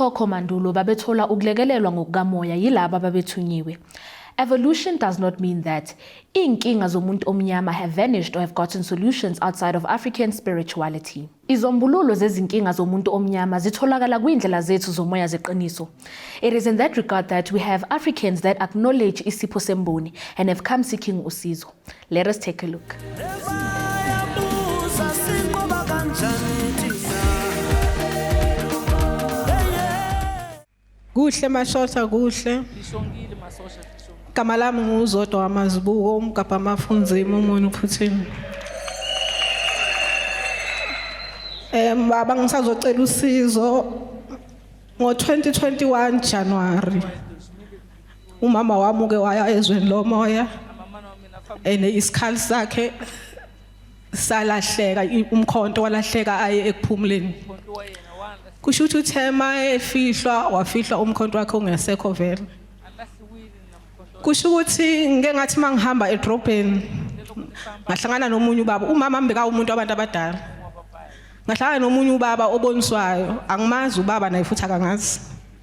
Okhokho mandulo babethola ukulekelelwa ngokukamoya yilabo ababethunyiwe. Evolution does not mean that inkinga zomuntu omnyama have vanished or have gotten solutions outside of African spirituality. Izombululo zezinkinga zomuntu omnyama zitholakala kwiindlela zethu zomoya zeqiniso. It is in that regard that we have Africans that acknowledge isipho semboni and have come seeking usizo. Let us take a look. Kuhle mashosha kuhle. Lishongile masosha lishongile. Igama lami nguzodwa wamazibuko umgabha amafunzima umuntu uphuthiwe. Eh baba ngisazocela usizo ngo 2021 January. Umama wami uke waya ezweni lomoya Amamana wami nafa ene isikhali sakhe salahleka i- umkhonto walahleka aye ekuphumuleni kusho ukuthi uthema efihlwa wafihlwa umkhonto wakhe ungesekho vele kusho ukuthi ngike ngathi uma ngihamba edrobheni ngahlangana nomunye ubaba umama mbeka umuntu abantu abadala ngahlangana nomunye ubaba oboniswayo angimazi ubaba naye futhi akangazi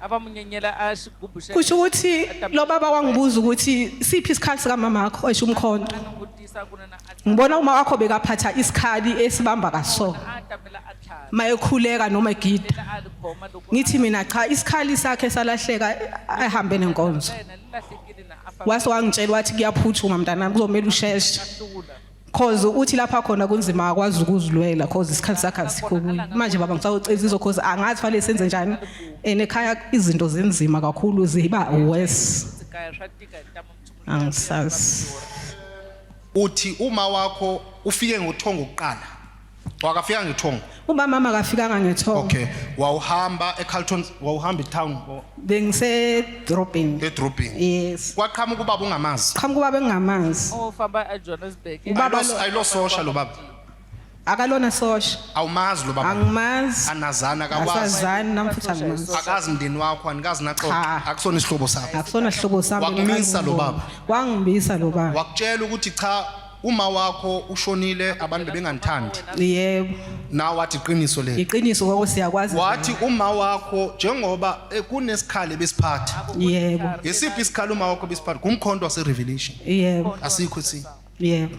abamunyenyela asigubhu se- kusho ukuthi lo baba wangibuza ukuthi siphi isikhali sikamama wakho esho umkhonto Anokutisa kuna na a- ngibona uma wakho bekaphatha isikhali esibamba kaso a tamela a tlhaka mayekhuleka noma egida la a likhoma loko a- ngithi mina cha isikhali sakhe salahleka ahambe nenkonzo yena lilahlekile na a fa- wase wangitshela wathi kuyaphuthuma mntanami kuzomele usheshe hlula cause uthi lapha khona kunzima akwazi ukuzilwela cause isikhathi sakhe asikho kuye manje baba ngisawuceza izo cause angazi fanele senze njani and ekhaya izinto zinzima kakhulu ziba worse angisazi uthi uma wakho ufike ngothongo kuqala Wakafika ngethongo. Ubamama akafikanga ngethongo. Okay. Wawuhamba eCarlton, wawuhamba etown or Bengise dropping. edrobheni. Yes. Kwaqhamuka ubaba ungamazi. Qhamuka ubaba engingamazi. ofamba ejohannesburg Ubaba Ayilo- lo- Ayilososha lo baba. Akalona sosha. Awumazi lo baba. Angimazi. Anazana akakwazi. Asazani namfuthi angimazi. Akazi mndeni wakho, anikazi naxoxa. Cha. Akusona isihlobo sakho. Akusona sihlobo sami. Wakumisa lo baba. Wangibisa lo baba. Wakutshela ukuthi cha Uma wakho ushonile abantu bebenganithandi. Yebo. Nawe wathi iqiniso leli. Iqiniso kwako siyakwazi. Wathi uma wakho njengoba eh, kunesikhali besiphatha. Yebo. Ngesiphi isikhali uma wakho besiphatha? Kumkhonto wase Revelation. Yebo. Asikho si. Yebo.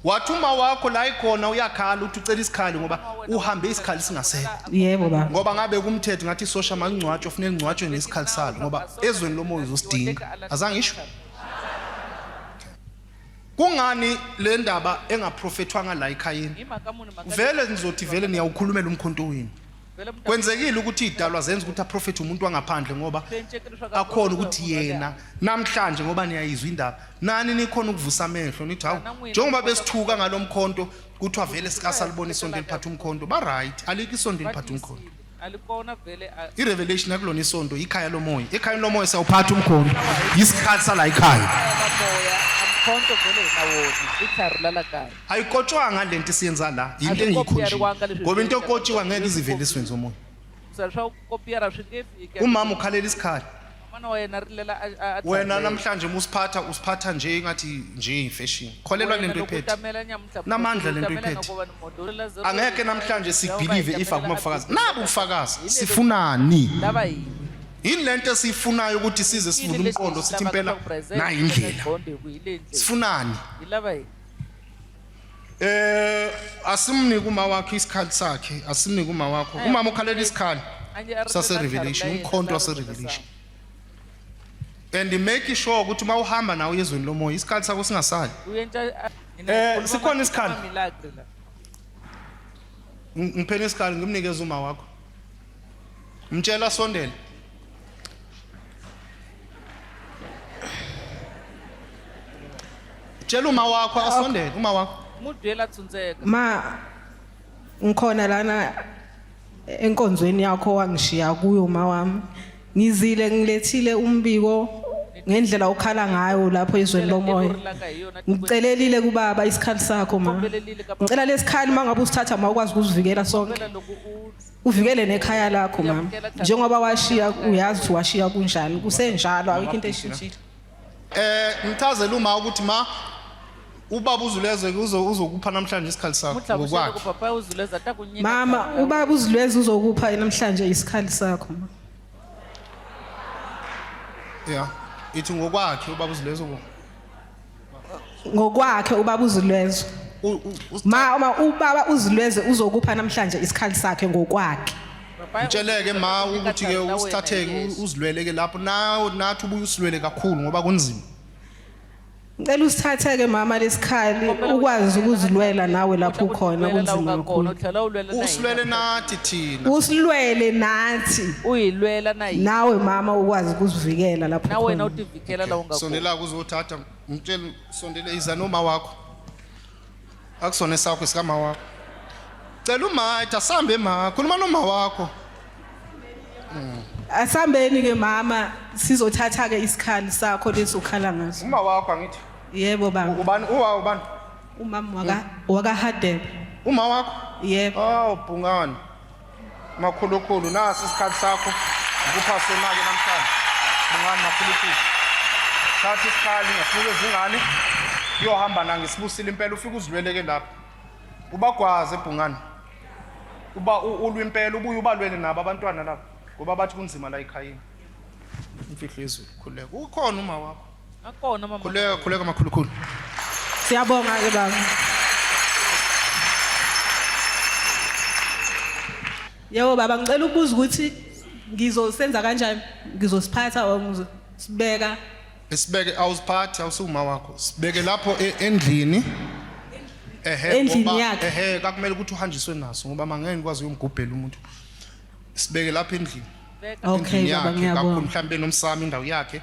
Wathi uma wakho la ikhona uyakhala uthi ucela isikhali ngoba uhambe isikhali singasekho. Yebo baba. Ngoba ngabe kumthetho ngathi sosha mangcwatsho ufune ngcwatshwe ngesikhali salo ngoba ezweni lomoya uzosidinga. Azangisho? Kungani le ndaba engaprofethwanga la ekhayeni? Vele nizothi vele niyawukhulumela umkhonto wenu. Kwenzekile ukuthi idalwa zenza ukuthi aprofethe umuntu wangaphandle ngoba akhona ukuthi yena namhlanje ngoba niyayizwa indaba. Nani nikhona ukuvusa amehlo nithi hawu njengoba besithuka ngalomkhonto kuthiwa vele sikasalibona isonto eliphatha umkhonto. Ba right, alikho isonto eliphatha umkhonto. alikona vele irevelation akulona isonto ikhaya lomoya ekhayeni lomoya sawuphatha umkhondo yisikhathi sala ikhaya umkhonto vele nawona ithari lalakaya ayikotshwanga le nto isiyenza la yinto engiyikhonjile ngoba into okotshiwa ngeke iziveliswe nzomoya umama ukhalela isikhala Mfana wena rilela a- a- a- wena thandeka. namhlanje uma usiphatha usiphatha nje ngathi nje imfeshini kholelwa Wena lento loko iphethe utamela nyamuhla, Namandla lento utamela iphethe. ngokobana umuntu ulela zero angeke zero namhlanje zero, sibelieve uba if itamela akuma bufakazi abhekile. nabu ubufakazi Yini sifunani Ndaba yini? yini lento esiyifunayo ukuthi size Yini sivule lesi umqondo sithi sihlaba impela kuba present, nayi indlela kuba bonde, kuyile ndlela. sifunani Yilaba yini? Eh asimnike uma wakhe isikhathi sakhe, asimnike uma wakho. Umama ukhalela isikhali sase revelation, umkhonto wase revelation. And make sure ukuthi uma uhamba nawo ezweni lomoya isikhathi sakho singasali. Eh sikhona isikhali. Ngiphela isikhali ngimnikeza uma wakho. Mtshela sondela. tshela uma wakho asondele uma wakho mudwela tsunzeka ma ngikhona lana enkonzweni yakho wangishiya kuyo ma wami ngizile ngilethile umbiko ngendlela okhala ngayo lapho izweni lomoya ngicelelile kubaba isikhali sakho ma ngicela lesikhali mangabe usithatha ma ukwazi ukusivikela sonke uvikele nekhaya lakho mama njengoba washiya uyazi ukuthi washiya kunjani kusenjalo ayikho into eshintshile eh ngichazela uma ukuthi ma ubaba uzulezwe uzokupha namhlanje isikhathi sakho ngokwakhe mama ubaba uzulezwe uzokupha namhlanje isikhathi sakho ma ya ithi ngokwakhe ubaba uzulezwe ngokwakhe ubaba uzilwezwe ma uma ubaba uzilweze uzokupha namhlanje isikhali sakhe ngokwakhe Mtsheleke ma ukuthi ke usithatheke uzilweleke lapho nawo nathi ubuye usilwele kakhulu ngoba kunzima Ngicela usithatheke mama lesikhali ukwazi ukuzilwela nawe lapho ukhona kunzima kakhulu. Usilwele nathi thina. Usilwele nathi. Uyilwela nayi. Nawe mama ukwazi ukuzivikela lapho ukhona. Phela la ungakho. Sondela kuzothatha mtshele sondele iza noma wakho. Akusona esakho sikama wakho. Cela umatha sambe ma khuluma noma wakho. Asambeni ke mama sizothatha ke isikhali sakho lesokhala ngaso. Uma wakho angithi Yebo baba. ubani uwa ubani? Umama waka waka Hadebe. Uma wakho? Yebo. Oh bhungani. Makhulukhulu nasi isikhathi sakho ngikupha sonake namhlanje. Bungani makhulukhulu. Thatha isikhali ngasibuke izingane uyohamba na ngisibusile impela ufike uzilweleke lapho. Ubagwaze ebhungani. Uba ulwa impela ubuye ubalwele nabo abantwana lapho ngoba bathi kunzima la ekhayeni. Imfihlo yezulu khuleka. Ukhona uma wakho. Akona mama. Khuleka khuleka makhulukhulu. Siyabonga ke baba. Yebo baba ngicela ukubuza ukuthi ngizosenza kanjani ngizosiphatha or ngizosibeka Sibeke awusiphathi awusuma wakho. Sibeke lapho e- endlini. Ehhe. Endlini ngoba- yakhe. Ehhe kakumele ukuthi uhanjiswe naso ngoba mangeke ngikwazi uyomgubhela umuntu. Sibeke lapho endlini. okay endlini baba yakhe kakhulu ngiyabonga mhlawumbe nomsamo indawo yakhe